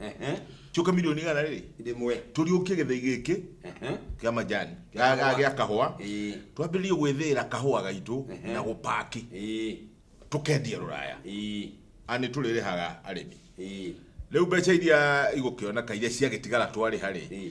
Ehe. cioka milioni igana rĩrĩ Ndĩmwe. tũriũkie gĩthei gĩkĩ Ehe. kĩa majani Kĩa kahũa. gĩa kahũa Ĩĩ. twambĩrĩrie gwĩthĩĩra kahũa gaitũ Ehe. na gũpaki Ĩĩ. tũkendia rũraya Ĩĩ. ani tũrĩrĩhaga arĩmi Ĩĩ. rĩu mbeca iria igũkĩoneka iria ciagĩtigara twarĩha rĩ Ĩĩ.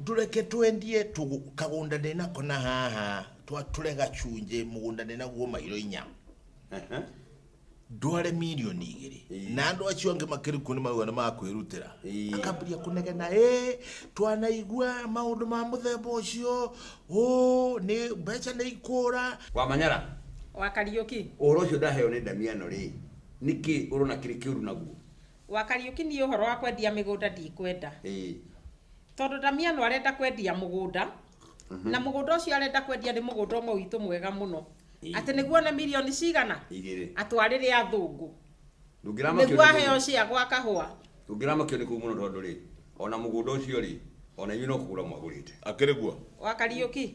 Ndũreke twendie tũgũ, kagũnda ndĩ nako na haha, twatũre gacunjĩ, mũgũnda ndĩ naguo mairo inya. Ehe. ndware mirioni igĩrĩ Ĩĩ. na andũ acio angĩ makĩrikwo nĩ mauga nĩ makwĩrutĩra Ĩĩ. akambĩria kũnegena ĩ twanaigua maũndũ ma mũthemba ũcio ũ nĩ mbeca nĩ ikũra Wamanyara, wa Kariũki. ũhoro ũcio ndaheo nĩ Damiano rĩ, nĩkĩ ũrona kĩrĩ kĩũru naguo? Wa Kariũki niĩ ũhoro wa kwendia mĩgũnda ndikwenda. Ĩĩ. Tondũ Ndamiano arenda kwendia mũgũnda, na mũgũnda ũcio arenda kwendia nĩ mũgũnda ũmwe witũ mwega mũno. Ĩĩ. Atĩ nĩguo one mirioni cigana? Igĩrĩ. Atwarĩre athũngũ. Ndũngĩramakio nĩ Nĩguo mũndũ. aheo cia gwa kahũa. Ndũngĩramakio nĩ kũu mũno tondũ rĩ, ona mũgũnda ũcio rĩ, ona inyuĩ no kũgũra mwagũrĩte. Akĩrĩ guo. Wa Kariũki,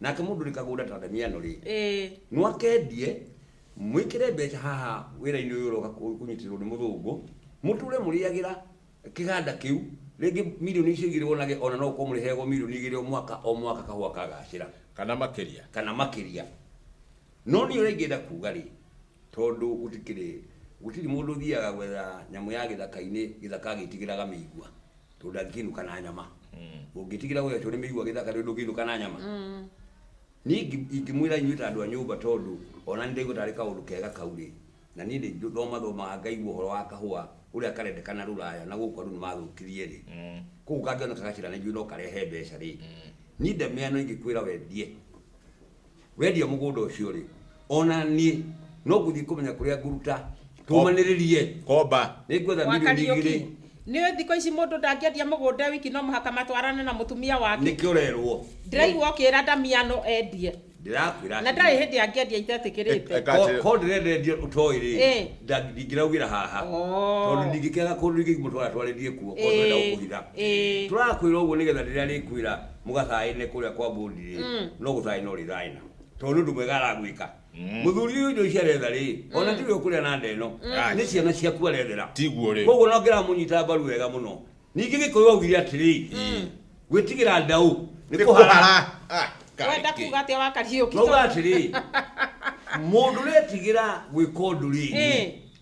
nake mundu ni kagunda ta damiano ri ĩĩ no akendie mwikire mbeca haha wira-ini uyu uroka ku- kunyitirwo ni muthungu muture muriagira kiganda kiu ringi milioni icio igiri wonage ona no ukorwo muriheagwo milioni igiri o mwaka o mwaka kahua kagacira kana makiria kana makiria no ni uri ngienda kuga ri Tondũ gũtikĩrĩ, gũtirĩ mũndũ ũthiaga gwetha nyamũ ya gĩthaka-inĩ, gĩthaka agĩtigĩraga mĩigua, tondũ ndangĩkĩinũka na nyama. Ũngĩtigĩra ũgekĩrwo nĩ mĩigua gĩthaka rĩu ndũngĩinũka na nyama? Niĩ ingi- ingĩmwĩra inyuĩ ta andũ a nyũmba tondũ ona niĩ ndaigua tarĩ kaũndũ kega kau rĩ, na niĩ nĩ thoma thomaga ngaigua ũhoro wa kahũa ũrĩa karendekana rũraya na gũkũ andũ nĩ mathũkirie rĩ, kũu kangĩoneka gacĩra na ithuĩ no karehe mbeca rĩ, niĩ ndamenya no ingĩkwĩra wendie Wendia mũgũnda ũcio rĩ, ona niĩ no ngũthiĩ kũmenya kũrĩa ngũruta tũmanĩrĩrie. Komba. Nĩ ngwetha Gwa milioni Kariũki. igĩrĩ Nĩ ũĩ thikũ ici mũndũ ndangĩendia mũgũnda e wiki no mũhaka matwarane na mũtumia wake. nĩkĩo ũrerwo. Ndĩraigua ũkĩra Damiano endie. Ndĩrakwĩra Na ndarĩ atĩrĩrĩ. hĩndĩ angĩendia itetĩkĩrĩte. Eka Ko- atĩ- Ko ndĩrenda endia ũtoĩ rĩ, Ĩĩ. nda- ndingĩraugĩra haha. Oo. Tondũ ndingĩkĩaga kũndũ ingĩmũtwara twarĩrie kuo, ko ndĩrenda Ĩĩ, gũkũhitha. ĩĩ. Tũrakwĩra ũguo nĩgetha rĩrĩa arĩkwĩra mũgathaĩne kũrĩa kwa mbũndire Mm. no gũthaĩ no rĩthaĩna tondũ nĩ ũndũ mwega aragwĩka Mm. mũthuri ũyũ indo ici aretha rĩ ona tiwe ũkũrĩa na ndeno nĩ ciana ciaku arethera tiguo rĩ koguo no ngĩramunyita mbaru wega mũno ningĩ gĩkũyũ augire atĩrĩ gwĩtigĩra ndaũ nĩ kũhara nĩkũhara Ah, kaĩ wenda kĩ. kuga atĩa wakariũki noga atĩrĩ mũndũ retigĩra gwĩka ũndũ rĩ Eh.